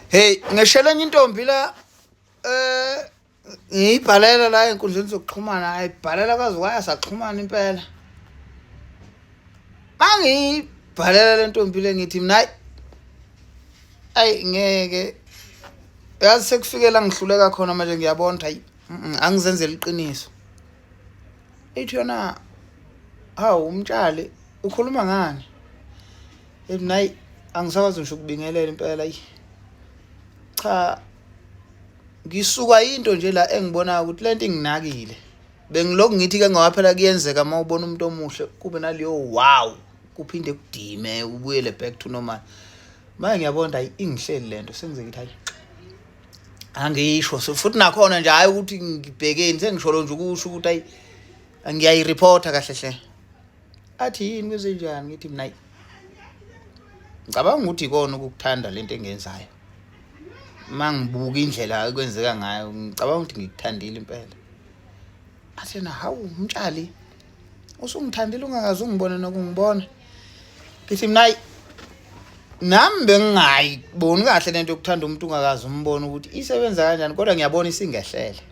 Hey ngeshela enye intombi la eh ngiyibhalela la enkundleni zokuxhumana ayibhalela kwaze kwaya saxhumana impela mangiyibhalela le ntombi le ngithi mina ayi ngeke yazi sekufikela ngihluleka khona manje ngiyabona ukuthi ayi angizenzela iqiniso ithi yona hawu umtshali ukhuluma ngani Nayi angisakwazi ngisho ukubingelela impela yi. Cha ngisuka into nje la engibona ukuthi lento inginakile. Bengiloku ngithi ke ngawaphela kuyenzeka uma ubona umuntu omuhle kube naleyo wow kuphinde kudime ubuyele back to normal. Manje ngiyabona hayi ingihleli lento sengizeke ukuthi hayi angisho so futhi nakhona nje hayi ukuthi ngibhekeni sengisholo nje ukusho ukuthi ayi ngiyayireporta kahle hle athi yini kwezenjani ngithi mina ngicabanga ukuthi ikona ukukuthanda lento engenzayo mangibuka indlela ekwenzeka ngayo ngicabanga ukuthi ngikuthandile impela athena hawu umtshali usungithandile ungakaze ungibone nokungibona ngithi mina nami bengingayiboni kahle lento yokuthanda umuntu ungakaze umbone ukuthi isebenza kanjani kodwa ngiyabona isingehlele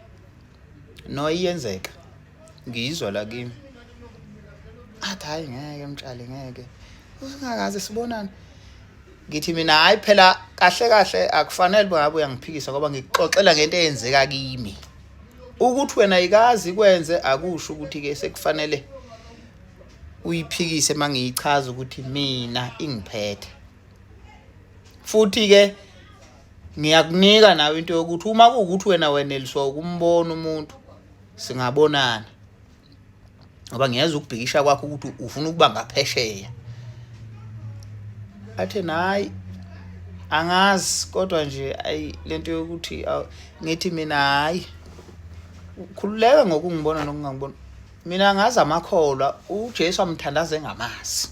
no iyenzeka ngiyizwa la kimi athi hayi ngeke mtshali ngeke usingakaze sibonane ngithi mina hayi phela kahle kahle akufanele bangabe uyangiphikisa ngoba ngikuxoxela ngento eyenzeka kimi ukuthi wena ikazi kwenze akusho ukuthi ke sekufanele uyiphikise mangiyichaza ukuthi mina ingiphethe futhi ke ngiyakunika nawe into yokuthi uma kuwukuthi wena weneliswa ukumbono umuntu singabonana ngoba ngiyeza ukubhikisha kwakho ukuthi ufuna ukuba ngaphesheya athe nayi angazi kodwa nje ayi lento yokuthi ngithi mina hayi khululeka ngokungibona nokungangibona mina ngazi amakholwa uJesu amthandaze ngamazi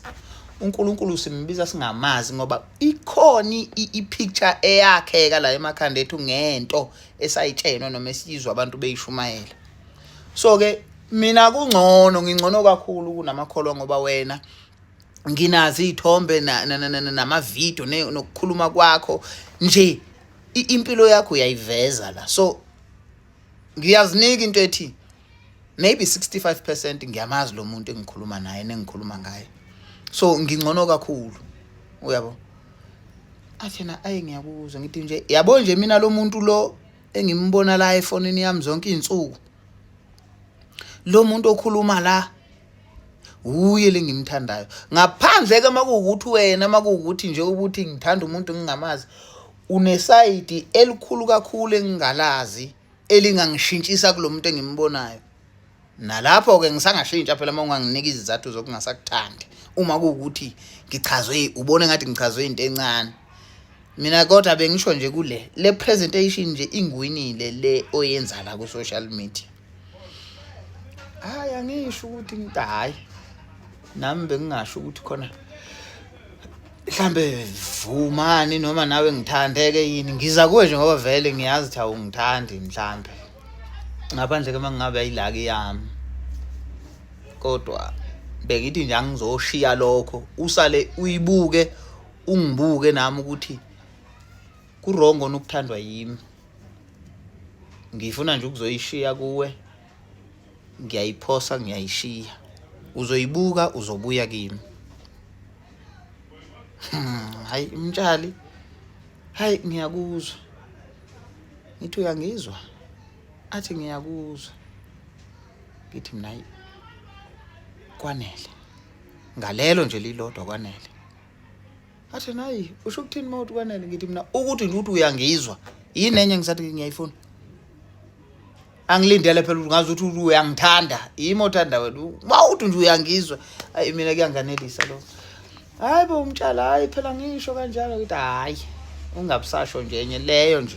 uNkulunkulu simbiza singamazi ngoba ikhona ipicture eyakheka la emakhanda ethu ngento esayitshenwe noma esiyizwa abantu beyishumayela so ke mina kungcono ngingcono kakhulu kunamakholwa ngoba wena nginazi iy'thombe namavidiyo nokukhuluma kwakho nje impilo yakho uyayiveza la so ngiyazinika into ethi maybe 65 percent ngiyamazi lo muntu engikhuluma naye nengikhuluma ngaye so ngingcono kakhulu uyabo athena ayi ngiyakuzwa ngithi nje yabo nje mina lo muntu lo engimbona la efonini yami zonke izinsuku lo muntu okhuluma la uye lengimthandayo ngaphandle ke makuwukuthi wena makuwukuthi nje ukuthi ngithanda umuntu ngingamazi unesayidi elikhulu kakhulu engingalazi elingangishintshisa kulo muntu engimbonayo nalapho-ke ngisangashintsha phela uma unganginika izizathu zokungasakuthandi uma kuwukuthi ngichazwe ubone ngathi ngichazwe into encane mina kodwa bengisho nje kule le presentation nje ingwinile le oyenza la ku social media hayi angisho ukuthi ngitayi nami bengingasho ukuthi khona mhlambe vumani noma nawe ngithandeke yini ngiza kuwe nje ngoba vele ngiyazi ukuthi awungithandi mhlambe ngaphandle ke mangingabe ayilaki yami kodwa bengithi nje angizoshiya lokho usale uyibuke ungibuke nami ukuthi kurongo nokuthandwa yimi ngifuna nje ukuzoyishiya kuwe ngiyayiphosa ngiyayishiya uzoyibuka uzobuya kimi hmm, hayi mtshali hayi ngiyakuzwa ngithi uyangizwa athi ngiyakuzwa ngithi mina hayi kwanele ngalelo nje lilodwa kwanele athi nayi usho ukuthini uma uthi kwanele ngithi mina ukuthi nje ukuthi uyangizwa yini enye ngisathi ngiyayifuna angilindele phela ukuthi ngazi ukuthi uyangithanda yimi othanda wena mawuthi nje uyangizwa ayi mina kuyanganelisa lo hayi bo umtshala hayi phela ngisho kanjalo ukuthi hayi ungabusasho nje enye leyo nje